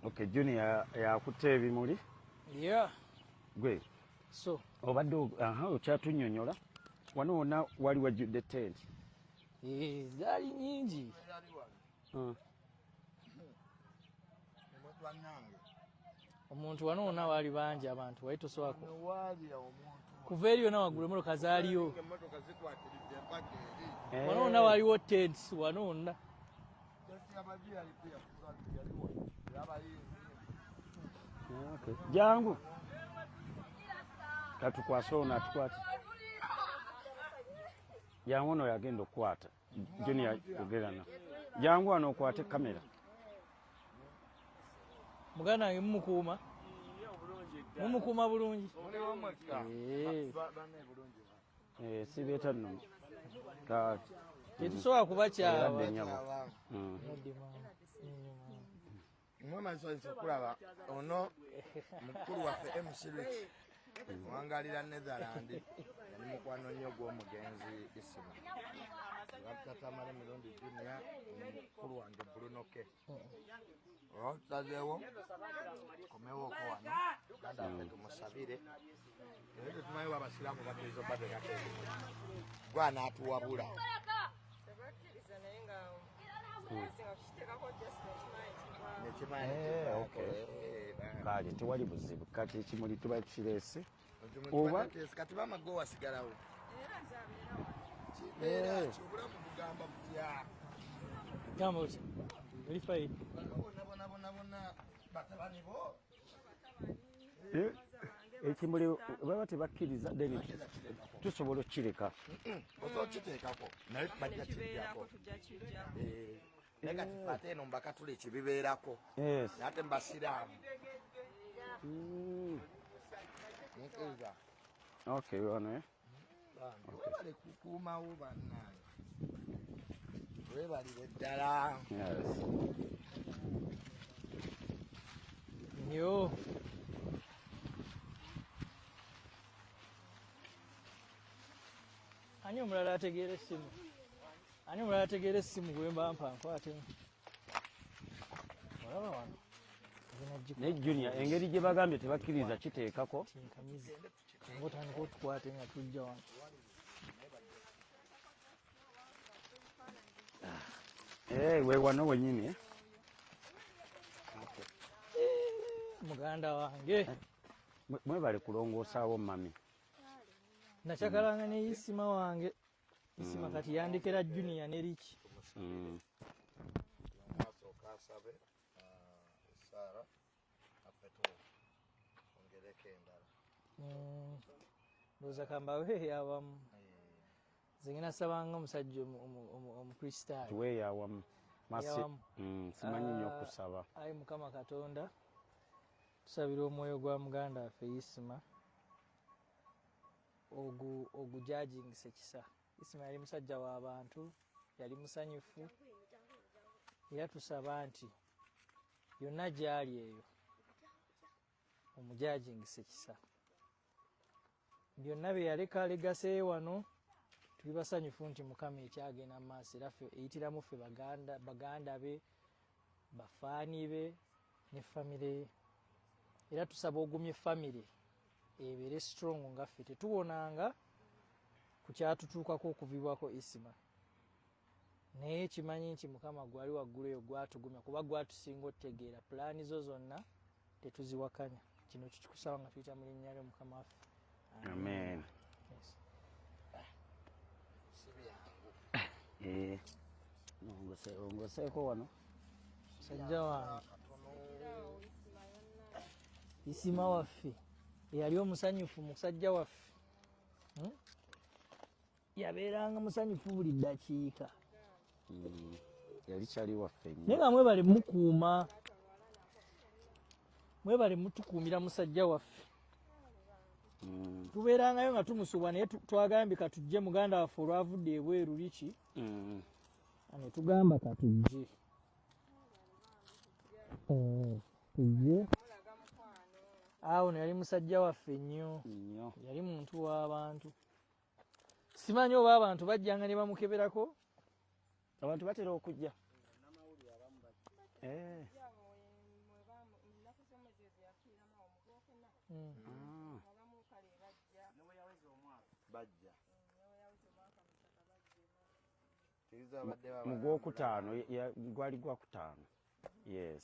Okay, Junior yakutte ebimuli. Yeah. Gwe. So. Obadde aha okyatunnyonnyola. Wano wonna wali wajjudde tent. Eh, zaali nyingi. Hmm. omuntu wano wona waali bangi abantu wali toswako kuva eri yona waggulu emotoka zaaliyo eh. wano wona waliwo tents wano wonna jangu katukwase ono atukwate jangu ono yagenda okukwata Junior yogera na jangu wano okwate kamera muganda wange mumukuuma mumukuuma bulungi eh. eh, sibeeta nno tetusobola kuba kyawa hmm. mwemansozi okulaba ono mukulu waffe mcrich wangalira netherland yali mukwano nnyo gw'omugenzi isima abatatamale mirundi junia mukulu wange bulunoke olwatutazeewo komewooko wano ganda waffe tumusabire naye tetumanyi abasiraamu bateezo batekate gwe anaatuwabula kale tewali buzibu kati ekimuli tuba tukireese oba kati bamago wasigalawo obulamu bugamba butya gamba oti oli fayi bona bona bona bona batabani bo Eh, ekimuli baba tebakkiriza then tusobola okukireka okiteekako naye bajja kijjako naye kati ate eno mbakatula ekibibeerako ate mbasiraamu hmm. Okay, you want it? webale kukuumawo bannange webalire ddala nyo ani omulala ategeera essimu ani omulala ategeera essimu gwemba mpa nkwatemu olaba wano ne junior engeri gye bagambye tebakkiriza kiteekako Nga otandika otukwate nga tujja wano. Eh, we wano wenyini eh? Muganda wange. Eh, mwebale kulongoosaawo mami. Nacakalanga ne isima wange. Isima mm. kati yandikira junior ne Rich. Mm. Maso kasabe. Uh, Sarah. Mm. ndowooza kambawe eyawamu nze ngena sabanga omusajja omukristaayo tuwe eyawamu mm, simanyi nyo ah, okusaba ayi mukama katonda tusabira omwoyo gwa muganda waffe isima ogujajingisa ekisa isima yali musajja w'abantu yali musanyufu era tusaba nti yonna gyali eyo omujajingisa ekisa byonna bye yaleka legaseyo wano tuli basanyufu nti mukama ekyagenda mu maaso era ffe eyitiramu ffe baganda be bafaani be ne famire ye era tusaba ogumye famire ebeere strong nga ffe tetuwonanga ku kyatutuukako okuvibwako isima naye kimanyi nti mukama gwali waggulu eyo gwatugumya kuba gwatusinga otegeera pulaani zo zonna tetuziwakanya kino kikikusaba nga tuyita mu linnya lyo mukama waffe amen eh, ongoseeko wano musajja wange isima waffe eyali omusanyufu musajja waffe hmm? yabeeranga musanyufu buli ddakiika hmm. yali kyali waffe naye nga mwebale mukuuma mwebale mutukuumira musajja waffe hmm. tubeerangayo nga tumusubwa naye twagambye katujje muganda waffe olwavudde ebweru liki hmm. netugamba katujje eh, tujje awo neyali musajja waffe nnyo yali muntu w'abantu simanyi oba abantu bajjanga ne bamukeberako abantu batera okujja eh. hmm. ah. mugwokutaano gwali gwakutaano yes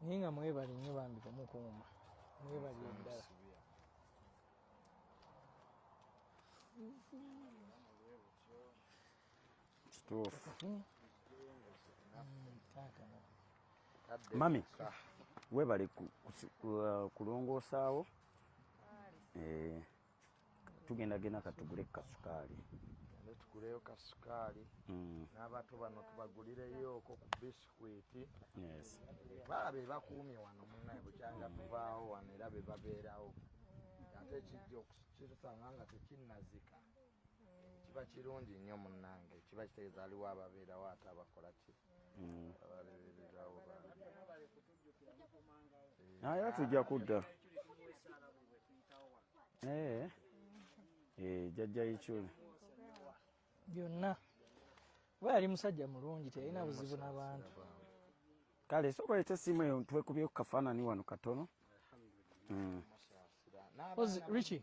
naye nga mwebale nnyo bambi bamukuuma mwebali eddala kituufu hmm. mami webale uh, kulongoosaawo eh. tugenda genda katugule kasukaali tuguleyo kasukaali mm. n'abato bano tubagulireyoko ku bisikwiti bala be bakuumye wano munaye bukyanga mm. tuvaawo wano era be babeerawo ate kijja okukisanga nga tekinnazika kiba kirungi nnyo munnange kiba kitegeeza aliwo ababeerawo ate abakola kiri Mm. Ah, era tujja kudda eh. Eh, jajja ichuli byonna kuba yali musajja mulungi teyalina buzibu nabantu kale soka leta esimu eyo twekubye ku kafaanani wano katono mm. richi